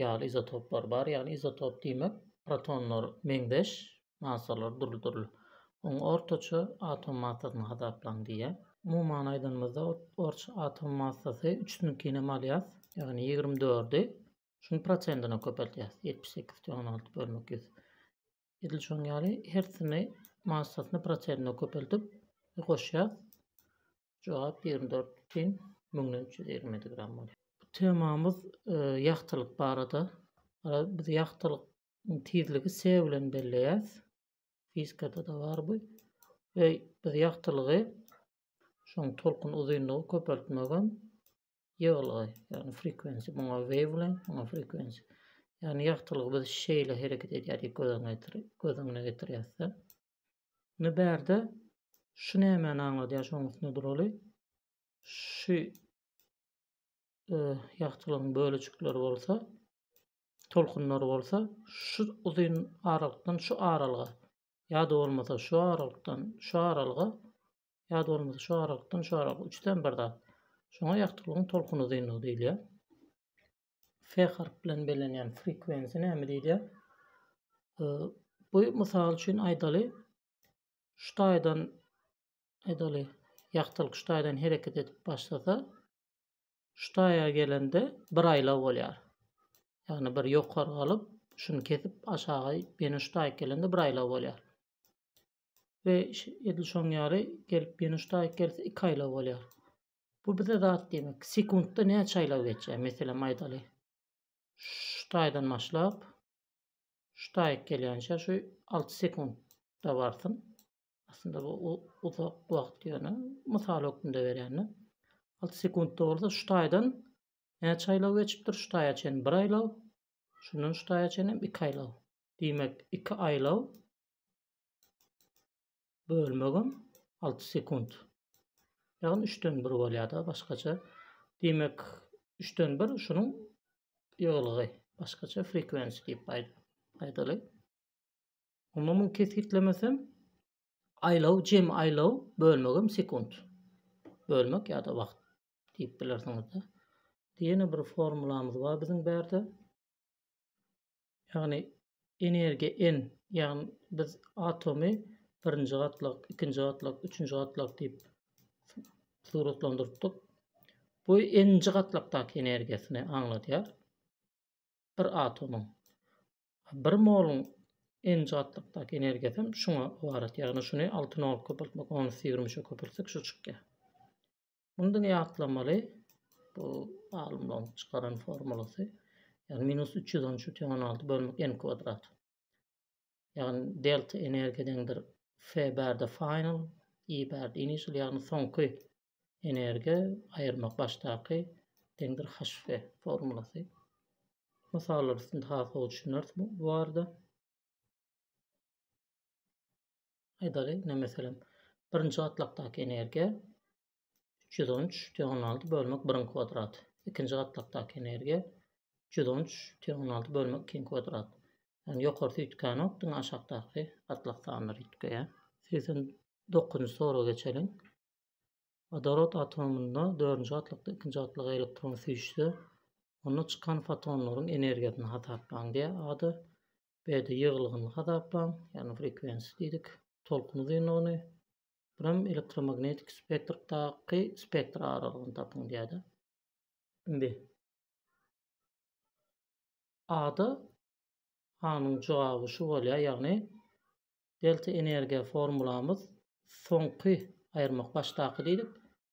ýaly izotoplar bar, ýagny izotop diýmek protonlar meňzeş, massalar dürli-dürli. Oň ortaça atom massasyny hasaplaň diýýär. Umuman aýdanymyzda ortaça atom massasy üçüsiniňkini hem alýas, ýagny ýigrimi dördi şunuň prosentine köpeltýäs, ýetmiş sekiz tüen alty bölmek ýüz. Edil şoň ýaly hersini massasyny proterine köpeldip goşýar. Jogap 24 bütin müňden 327 gram bolýar. Bu temamyz e, ýagtylyk barada. Biz ýagtylyk tizligi S bilen belleýäs. Fizikada da bar bu. Ve biz ýagtylygy şoň tolkun uzynlygy köpeltmegem Ýygylgy, ýagny frequency, muňa wavelength, muňa frequency. Ýagny ýagtylygy biz şeýle hereket edýärdik, göz öňüne getirip, göz öňüne getirýäs-de. Indi bärde şu nämäni aňladýar, şonuň üstünde duraly. Şu e, ýagtylygyň bölejikleri bolsa, tolkunlary bolsa şu uzyn aralykdan şu aralyga ýa-da bolmasa şu aralykdan şu aralyga Ýa dolmasy şu aralykdan şu aralyk üçden bir zat. Şoňa ýagtylygyň tolkun uzynlygy diýilýär. F harp bilen bellenýän frekwensiýa näme diýilýär? Bu mysal üçin aýdaly, şu taýdan aýdaly ýagtylyk şu taýdan hereket edip başlasa, şu taýa gelende bir aýlaw bolýar. Ýagny bir ýokary galyp, şuny kesip aşaga ýene şu taýa gelende bir aýlaw bolýar. we edil şoň ýaly gelip ýene şu taýyk gelse iki aýlaw bolýar. Bu bize zat diýmek. Sekuntda näçe aýlaw geçýär? Meselem aýdaly. Şu taýdan başlap şu taýyk gelýänçä şu 6 sekuntda barsyn. Aslynda bu uzak wagt ýöne mysal hökmünde berýän-de. 6 sekuntda bolsa şu taýdan näçe aýlaw geçipdir? Şu taýa çenli bir aýlaw. Şundan şu taýa çenli hem iki aýlaw. Diýmek, iki aýlaw bölmegim 6 sekunt. Ýagny 3-den 1 bolýar-da başgaça. Diýmek, 3-den 1 şunuň ýygylgy. Başgaça frequency diýip aýdaly. Onda muny kesgitlemesem aýlaw, jemi aýlaw bölmegim sekunt. Bölmek ýa-da wagt diýip bilersiňiz-de. Diýene bir formulamyz bar biziň bärde. Ýagny energiýa en, ýagny biz atomy birinji gatlak, ikinji gatlak, üçünji gatlak diýip suratlandyrypdyk. Bu n-nji gatlakdaky energiýasyny aňladýar. Bir atomyň bir moluň n-nji gatlakdaky energiýasy hem şuňa ybarat. Ýagny şuny 6 nol köpeltmek, ony ýüz ýigrimi üçe köpeltsek şu çykýar. Mundan ýatlamaly, bu alymlaryň çykaran formulasy, ýagny minus 313-16 bölmek n kwadrat. Ýagny delta energiýa deňdir F bärde final, I bärde initial, ýagny soňky energiýa aýyrmak başdaky deňdir HF formulasy. Mysallar üstünde has gowy düşüneris bu barada. Aýdaly, ine meselem, birinji gatlakdaky energiýa üç ýüz on üç tüýn on alty bölmek biriň kwadraty. Ikinji gatlakdaky energiýa üç ýüz on üç tüýn on alty bölmek ikiň kwadraty. Yani ýokarsy üýtgänok, diňe aşakdaky gatlak sanlary üýtgeýär. Segsen dokuzynjy soraga geçeliň. Wodorod atomynda dördünji gatlakda ikinji gatlaga elektron süýşse, onda çykan fotonlaryň energiýasyny hasaplaň diýýär. A-da Bärde ýygylgyny hasaplaň, ýagny frekwensiýa diýdik, tolkun uzynlygyny, buram elektromagnetik spektrdaky spektr aralygyny tapyň diýýärdi. Indi A-da A-nyň jogaby şu bolýar, ýagny delta energiýa formulamyz soňky aýyrmak başdaky diýdik.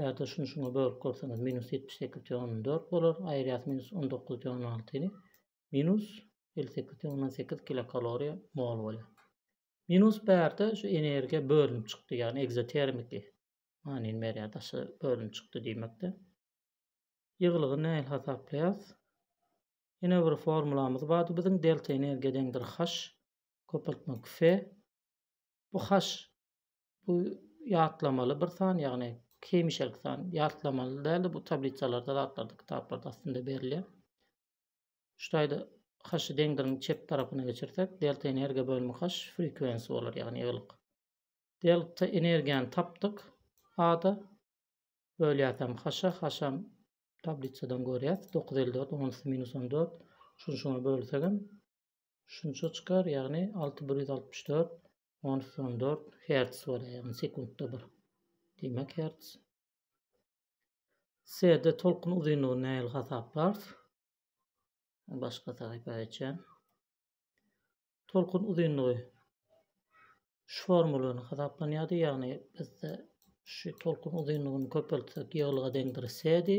Ýa-da şuny şuňa bölüp görseňiz minus ýetmiş sekiz tüen on dört bolar, aýyrýas minus on dokuz tüen on altyny minus elli sekiz tüen ondan sekiz kilokaloriýa mol bolýar. Minus bärde şu energiýa bölünip çykdy, ýagny egzotermiki manyny berýär, daşa bölünip çykdy diýmekde. Ýygylygy nähili hasaplaýas? Ýene bir formulamyz bardy biziň delta energiýa deňdir H köpeltmek F. Bu H Bu ýatlamaly bir san, ýagny hemişelik san. Ýatlamaly däl-de, bu tablisalarda, zatlarda, kitaplarda aslynda berilýär. Şu taýda haşy deňdiriň çep tarapyna geçirsek, delta energiýa bölümi haş frekwensi bolar, ýagny ýygylyk. Delta energiýany tapdyk. A-da bölýäs hem haşa, haş hem tablisadan görýäs. 954, onusy minus 14. Şuny şuňa bölsegem Şunça çykar, ýagny alty bir ýüz altmyş dört, on üç on dört hertz bolýar, ýagny sekuntda bir. Diýmek hertz. Serde tolkun uzynlygyny nähili hasaplarys? Başga sahypa geçen. Tolkun uzynlygy şu formulany hasaplanýardy, ýagny bizde şu tolkun uzynlygyny köpeltsek ýygylyga deňdir sedi.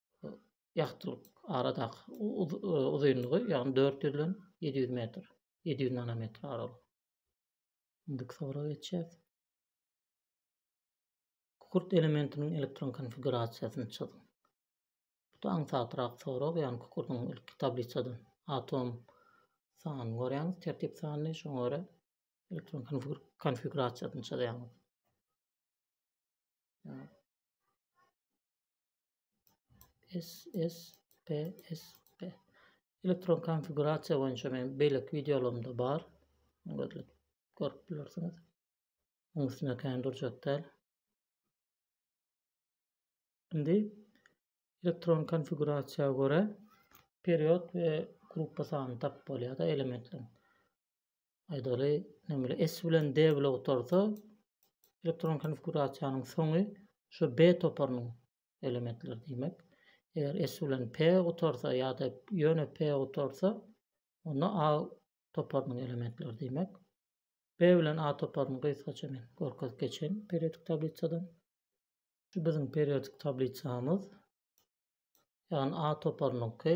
ýagtylyk aradaky uzynlygy ýagny 400 bilen 700 metr 700 nanometr aralyk. Indiki sowra geçýär. Kukurt elementiniň elektron konfigurasiýasyny çyzyň. Bu da aňsatrak sorag, ýagny kukurdyň ilki tablisadan atom sanyny görýäňiz, tertip sanyny, şoňa görä elektron konfigurasiýasyny çyzýaňyz. SSPSP elektron konfigurasiýa boýunça men beýleki wideolarymda bar. Görüp görüp bilersiňiz. Onuň üstünde kän durjak däl. Indi elektron konfigurasiýa görä period we gruppa sanyny tapyp bolýar-da elementleriň. Aýdaly, näme S bilen D bloktorsa elektron konfigurasiýanyň soňy şu B toparynyň elementleri diýmek. Eger S bilen P gutarsa ýa-da ýöne P gutarsa, onda A toparynyň elementleri diýmek. B bilen A toparyny gysgaça men görkezip geçen periodik tablisadan. Şu biziň periodik tablisamyz. Ýagny A toparynyňky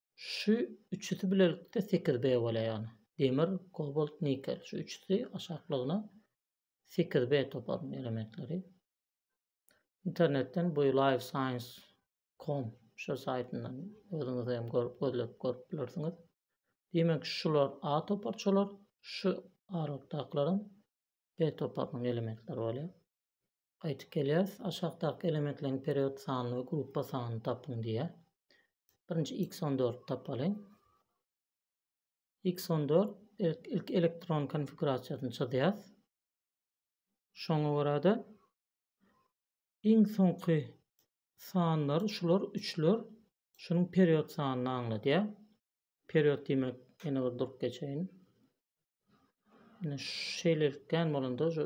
Şu üçüsi bilelikde sekiz B bolýar ýagny. Demir, kobalt, nikel. Şu üçüsi aşaklygyna sekiz B toparynyň elementleri. Internetden bu Live Science com şu saýtyndan özüňiz hem görüp gözlep görüp bilersiňiz. Diýmek şular A toparçalar, şu aralykdakylaram B toparynyň elementleri bolýar. Gaýtyp gelýäris. Aşakdaky elementleriň period sanyny we gruppa sanyny tapyň diýýär. Birinji x on dördi tapaly. X on dört ilk elektron konfigurasiýasyny çyzýas. Şoňa görä-de iň soňky sanlar şular üçler şunuň period sanyny aňladýar. Period diýmek ýene bir durup geçeýin. Ýene şeýlelikden bolanda şu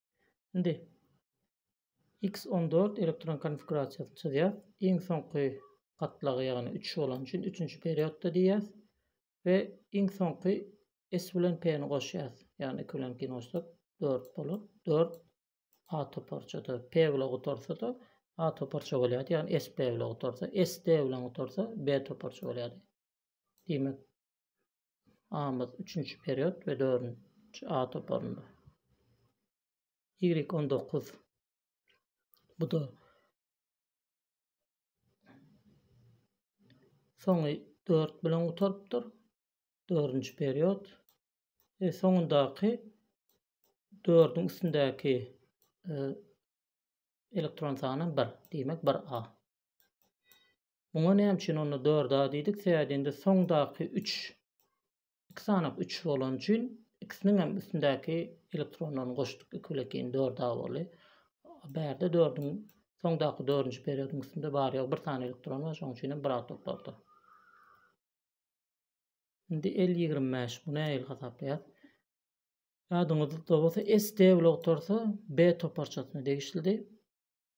Indi X on dört elektron konfigurasiýasyny çyzýas. Iň soňky gatlagy ýagny üç bolany üçin üçünji periodda diýýäs we iň soňky S bilen P-ni goşýas. Ýagny iki bilen ikini goşsak dört bolar. Dört A toparçada P bilen gutarsa-da A toparça bolýardy. Ýagny S P bilen gutarsa, S D bilen gutarsa B toparça bolýardy. Diýmek, A-myz üçünji period we dördünji A toparynda. Y on dokuz. Bu-da soňy dört bilen gutarypdyr. Dördünji period. E, soňundaky dördüň üstündäki e, elektron sany bir. Diýmek bir A. Muňa näme üçin onda dört a diýdik? Sebäbi indi soňdaky üç iki sanak üç bolany üçin ikisiniň hem üstündäki elektronlaryny goşduk. Iki bile iki dört a boldy. Bärde dördüň soňdaky dördünji periodyň üstünde bar ýok bir sany elektron bar. Şonuň üçin hem bir a toplardy. Indi el ýigrimi bäş. Bu nähili hasaplaýar? Ýadyňyzda bolsa SD blogy torsa B toparçasyna degişlidi.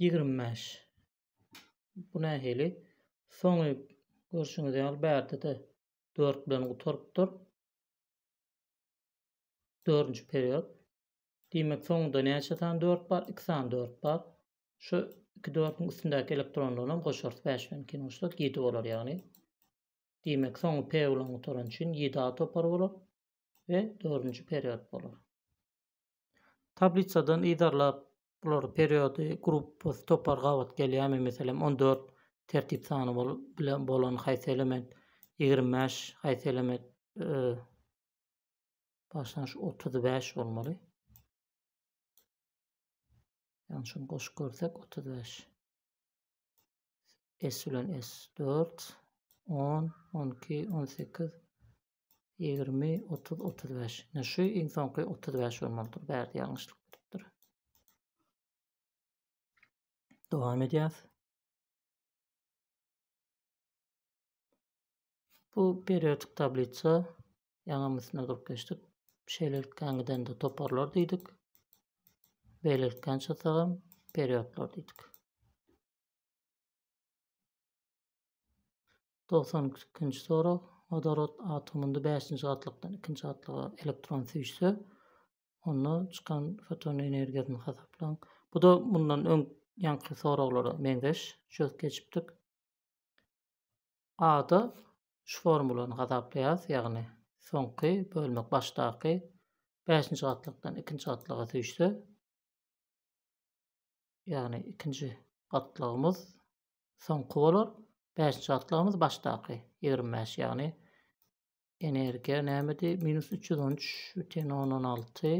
ýigrimi bäş. Bu nähili? Soňy görşüňiz ýaly bärde-de dört bilen gutarypdyr. Dördünji period. Diýmek, soňunda näçe sany dört bar? Iki sany dört bar. Şu iki dördüň üstündäki elektronlaryny hem goşarys. Bäş bilen ikini goşsak ýedi bolar ýagny. Diýmek, soňy P bilen gutaran üçin ýedi A topary bolar we dördünji period bolar. Tablisadan yzarlap Bular periody, gruppasy, topar gabat gelýärmi? Meselem, on dört tertip sany bolup bilen bolan haýsy element, ýigrimi bäş haýsy element, başlangyç otuz bäş bolmaly. Yani şunu koşup görsek 35. S bilen S 4, 10, 12, 18, Ýigrimi, otuz, otuz bäş. Ine şu iň soňky otuz bäş bolmalydyr. Bärde ýalňyşlyk beripdir. Dowam edýäs. Bu periodik tablisa ýaňam üstüne durup geçdik. Şeýlelikden gidende toparlar diýdik. Beýlelikden çyksagam periodlar diýdik. Togsan ikinji sorag, Wodorod atomynda bäşinji gatlykdan ikinji gatlyga elektron süýşse, onda çykan foton energiýasyny hasaplaň. Bu-da mundan öň ýaňky soraglara meňzeş, çözüp geçipdik. A-da şu formulany hasaplaýarys, ýagny soňky bölmek başdaky bäşinji gatlykdan ikinji gatlyga süýşse, ýagny ikinji gatlygymyz Soňky bolar, bäşinji gatlagyňyz başdaky ýigrimi bäş, ýagny energiýa nämedi, minus üç ýüz on üç bütin ondan alty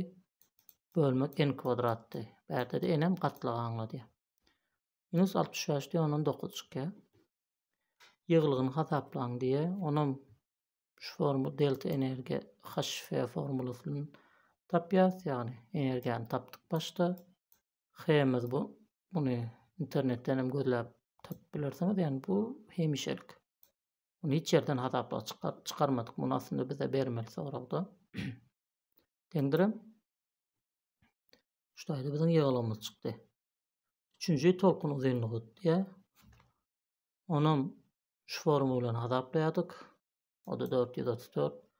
bölmek n kwadratdy. Bärde-de n-em gatlagy aňladýar. Minus altmyş bäş diýen ondan dokuz çykýar. Ýygylygyny hasaplaň diýýär. Onam şu formu delta energiýa HF formulasyny tapýarys, ýagny energiýany tapdyk başda. Hemmiz bu. Muny internetden hem gözläp tapyp bilersiňiz. Ýani bu hemişelik. Muny hiç ýerden hasapla çykar, çykarmadyk. Muny aslynda bize bermeli soragda. Deňdirem. Şu taýda biziň ýygylygymyz çykdy. Üçünji tolkun uzynlygy diýä. Onam şu formula bilen hasaplaýardyk. O da 434.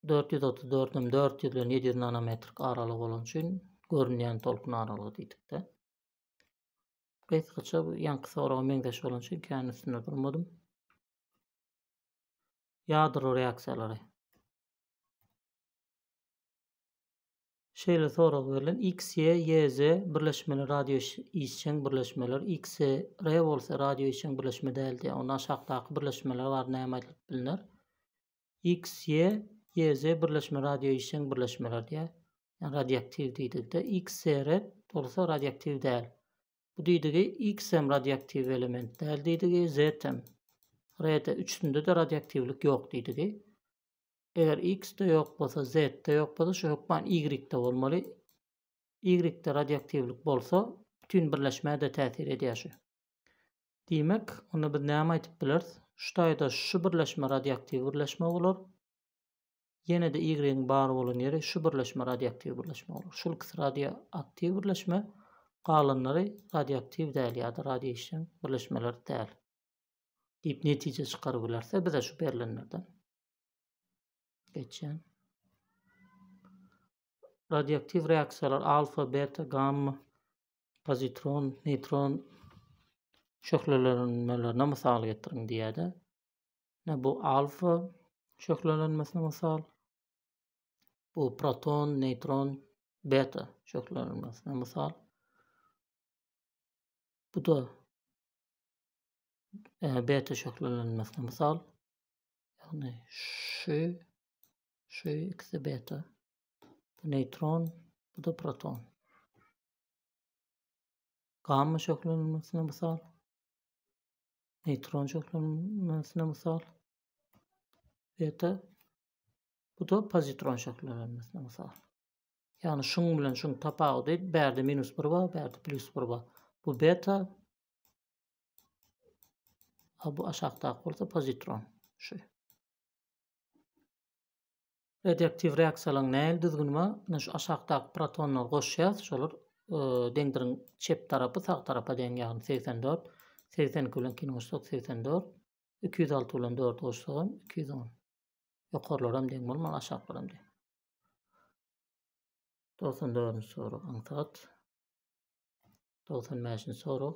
Dört ýüz otuz dördem dört ýüz bilen ýedi ýüz nanometrik aralyk bolany üçin görünýän tolkun aralygy diýdikde. Gysgaça bu ýaňky soraga meňzeş bolan üçin kän üstünde durmadym. Ýadro reaksiýalary. Şeýle sorag berlen X, Y, Y, Z birleşmeler radio işjeň birleşmeler, X, R bolsa radio işjeň birleşme däl diýýär. Onda aşakdaky birleşmeler bar näme aýdylyp bilner? XY, YZ birleşme radio işjeň birleşmeler diýýär. Ýa radioaktiw diýdigde XR bolsa radioaktiw däl. Bu diýdigi X hem radioaktiw element däl diýdigi, Z hem. Rd üçüsinde-de radioaktiwlik ýok diýdigi. Eger X-de ýok bolsa, Z-de ýok bolsa, şu hökman Y-de bolmaly. Y-de radioaktiwlik bolsa, bütin birleşmä-de täsir edýär şu. Diýmek, onda biz näme aýdyp bileris? Şu taýda şu birleşme radioaktiw birleşme bolar. Ýene-de Y-iň bar bolan ýeri şu birleşme radioaktiw birleşme bolar. Şul ikisi radioaktiw birleşme, galanlary radioaktiw däl ýa-da radioişjeň birleşmeler däl. Diýip netije çykaryp bilerse bize şu berlenlerden. Geçen. Radioaktiw reaksiýalar alfa, beta, gamma pozitron, neýtron şöhlelenmelerine mysal getiriň diýýär-de. Bu alfa şöhlelenmesine mysal. Bu proton, neýtron, beta şöhlelenmesine mysal. Bu da e, beta şöhlelenmesine mysal. Ýagny şu şu ikisi beta. Bu neýtron, bu da proton. Gamma şöhlelenmesine mysal. Neýtron şöhlelenmesine mysal. Beta bu da pozitron şöhlelenmesine mysal. Ýagny şuň bilen şuň tapawudy bärde minus 1 bar, bärde plus 1 bar. Bu beta a bu aşakdaky bolsa pozitron. Şu. Radioaktiw reaksiýalaryň nähili düzgüni bar? Ine şu aşakdaky protonlary goşýas, şolar deňdiriň çep tarapy sag tarapa deň ýagny segsen dört, segsen iki bilen ikini goşsak segsen dört, iki ýüz alty bilen dördi goşsagam iki ýüz on. Ýokarlaram deň bolmaly, aşaklaram deň. Togsan dördünji sorag aňsat. Togsan bäşinji sorag.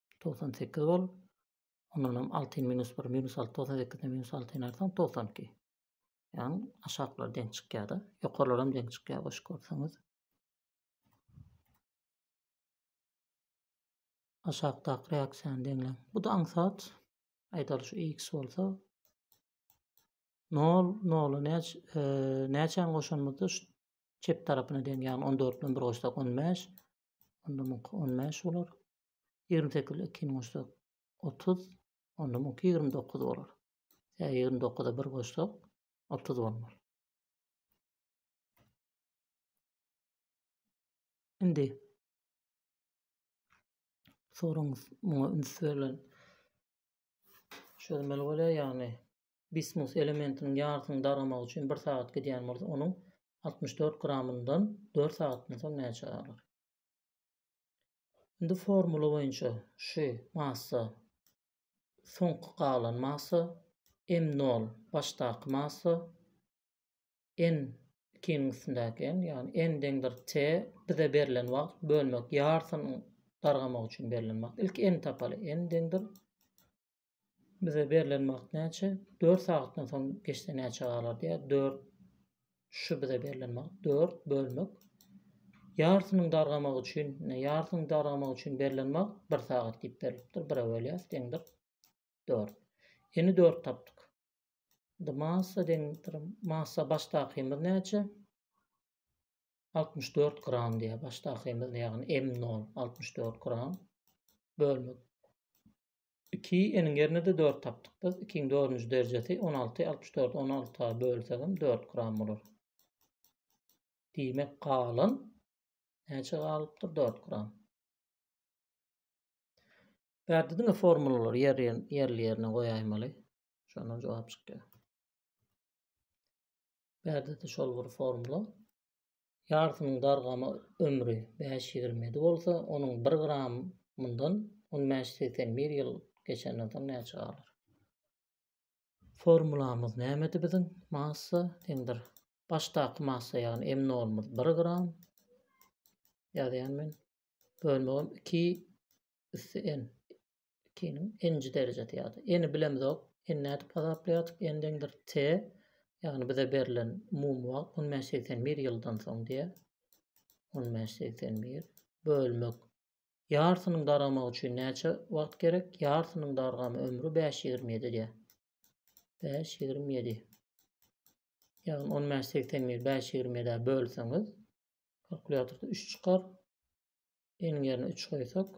togsan sekiz bol. Ondan hem altyn minus bir, minus alty, togsan sekizden minus altyn artan togsan iki. Yani aşaklar deň çykýar da. Ýokarlar hem deň çykýar goş görseňiz. Aşakdaky reaksiýany deňleň. Bu da aňsat. Aýdaly şu x bolsa 0 0 näç e, näçäni goşanymyzda şu çep tarapyna deň, ýagny 14 bilen 1 goşsak 15. Onda 15 bolar. Ýigrimi sekiz ile ikini goşsak, otuz, onda muňky ýigrimi dokuz bolar. Ýa ýigrimi dokuza bir goşsak, otuz bolmaz. Indi soraňyz muňa üns berlen çözmeli bolýar, ýagny bismus elementiniň ýarysyny daramagy üçin bir sagat gidýän bolsa, onuň altmyş dört gramyndan dört sagatdan soň näçe galar? Indi formula boýunça şu massa soňky galan massa m nol başdaky massa n ikiniň üstündäki n ýagny n deňdir t bize berlen wagt bölmek ýarysynyň dargamak üçin berlen wagt ilki n tapaly n deňdir Bize berlen wagt näçe? Dört sagatdan soň geçse näçe galar diýýär. Dört, şu bize berlen wagt dört bölmek. Ýarsynyň dargamak üçin, ine ýarsyny dargamak üçin berlen wagt bir sagat diýip berilipdir. Bire bölýäs deňdir dört. Eni dört tapdyk. Indi massa deňdir. Massa başdakymyz näçe? 64 gram diýýär. Başdakymyz ýagny M0 64 gram bölmek. Iki eniň ýerine-de dört tapdyk biz. Ikiň dördünji derjesi on alty, altmyş dördi on alta bölsegem dört gram bolar. Diýmek, galan näçe galypdyr? Dört gram. Bu ýerde diňe formulalary ýerli-ýerine goýaýmaly. Şondan jogap çykýar. Bu ýerde-de şol bir formula. Ýarsynyň dargama ömri bäş ýigrimi ýedi bolsa, onuň bir gramyndan on bäş segsen bir ýyl geçenden soň näçe galar? Formulamyz nämedi biziň? Massa deňdir. Başdaky massa ýagny M nolymyz bir gram. Ýazýan men. Bölmegim iki üsti N. Ikiniň nji derejesi ýa-da n-i bilemzok, n-i nädip hasaplaýardyk, n deňdir t, ýagny bize berlen umumy wagt on bäş segsen bir ýyldan soň diýýär. On bäş segsen bir bölmek ýarsynyň daramagy üçin näçe wagt gerek? Ýarsynyň dargama ömri bäş ýigrimi ýedi diýýär. Bäş ýigrimi ýedi. Ýagny on bäş segsen bir bäş ýigrimi ýedä bölseňiz, kalkulýatorda üç çykar. N-iň ýerine üç goýsak,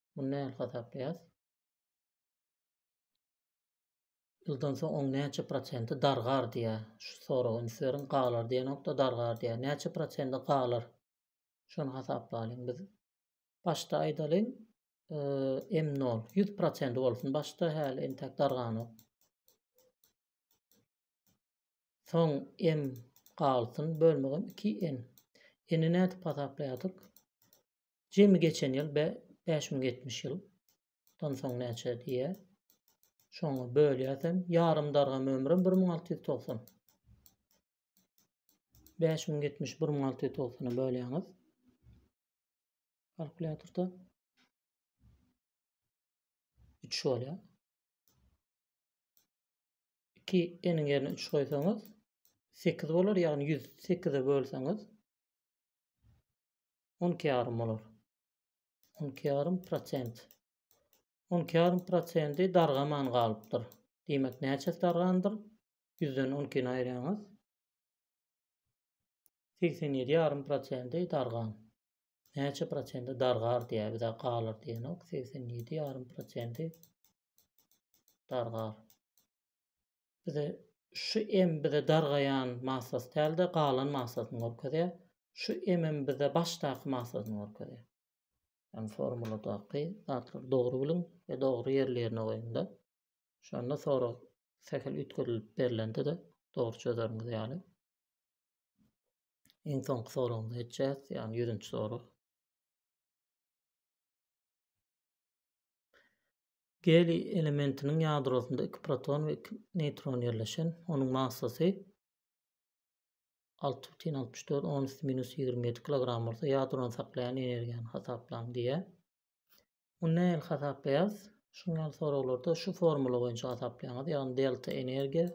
Muny nähili hasaplaýas? Ýyldan soň oň näçe prosenti dargar diýä? Şu soraga üns beriň. Galar diýenokda dargar diýä. Näçe prosenti galar? Şony hasaplaýyn biz. Başda aýdalyň, e, M0 100 prosenti bolsun. Başda häli entek darganok. Soň M galsyn bölmegim 2N. N-i nädip hasaplaýardyk? Jemi geçen ýyl be, bäş müň ýetmiş ýyl. Dan soň näçe diýýä? Şoňa bölýäsem, ýarym dargam ömrüm bir müň alty ýüz togsan. Bäş müň ýetmiş bir müň alty ýüz togsana bölýäňiz. Kalkulýatorda. Üç bolýar. Ki eniň ýerine 3 goýsaňyz 8 bolar, ýagny 108-e bölseňiz On iki ýarym bolar. On iki ýarym prosent. On iki ýarym prosendi dargaman galypdyr. Diýmek, näçesi dargandyr? Ýüzden on ikini aýyrýaňyz. Segsen ýedi ýarym prosendi dargan. Näçe prosenti dargar diýär, bize galar diýenok. Segsen ýedi ýarym prosendi dargar. Bize şu em bize dargaýan maslaty däl-de, galan maslatyny görkezýär. Şu emem bize başdaky maslatyny görkezýär. Ýagny formuladaky zatlary dogry biliň we dogry ýerli-ýerine goýuň-da. Şonda sorag sähel üýtgedilip berlende-de dogry çözeriňiz ýaly. Iň soňky soragymyza geçýäs, ýagny ýüzünji sorag. Geliý elementiniň ýadrosynda iki proton we iki neýtron ýerleşen, onuň massasy alty bütin altmyş dört, on üsti minus ýigrimi ýedi kilogram bolsa, ýadrony saklaýan energiýany hasaplaň diýýär. Muny nähili hasaplaýarys? Şuň ýaly soraglarda şu formula boýunça hasaplaýaňyz, ýagny delta energiýa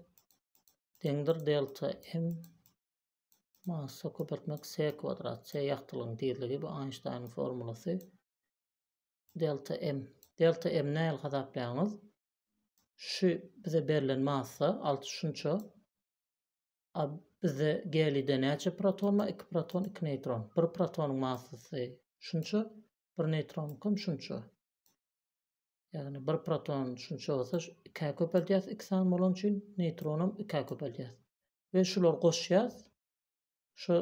deňdir delta m massa köpeltmek s kwadrat, s ýagtylygyň tizligi, bu Einsteiniň formulasy. Delta M. Delta M nähili hasaplaýaňyz? Şu bize berlen massa alty şunça. A bizde gelide näçe proton bar? Iki proton, iki neýtron. Bir protonyň massasy şunça, bir neýtronyňkam şunça. Ýagny bir proton şunça bolsa, ikä köpeldýäs iki sany bolany üçin, neýtronam ikä köpeldýäs. We şulary goşýas. Şu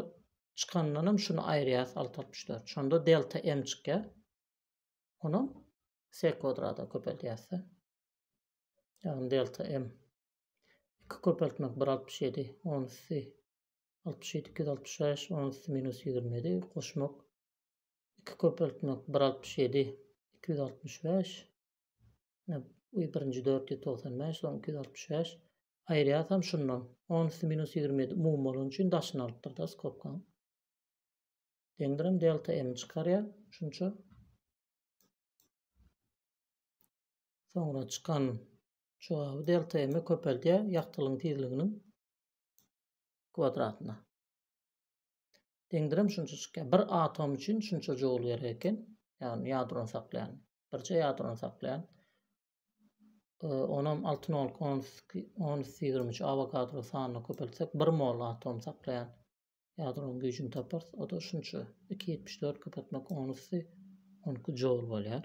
çykandan hem şuny aýyrýas alty altmyş dört. Şonda delta m çykýar. Ony s kwadrata köpeldýäs. Ýagny delta m 2 köpeltmek 1 altmyş ýedi, onusy altmyş ýedi iki ýüz altmyş bäş, onusy minus ýigrimi ýedi, goşmak iki köpeltmek bir altmyş ýedi iki ýüz altmyş bäş, Ine, birinji dört ýüz togsan bäş, soň iki ýüz altmyş bäş. Aýyrýasam şundan. On üsti minus ýigrimi ýedi umumy bolany üçin daşyny alypdyr-da skobkaň. Deňdirem delta m çykarýar. Şunça. Soňra çykan jogaby delta m-i köpeldýär ýagtylygyň tizliginiň kwadratyna. deňdirem şunça çykýar. Bir atom üçin şunça joul gerek eken. Ýagny ýadrony saklaýan. Birje ýadrony saklaýan. Onam 6 nol 10-23 avogadro sanyny köpeltsek 1 mol atom saklaýan. Ýadronyň güýjüni taparys. O da şunça 274 köpeltmek 10 üsti 12 joul bolýar.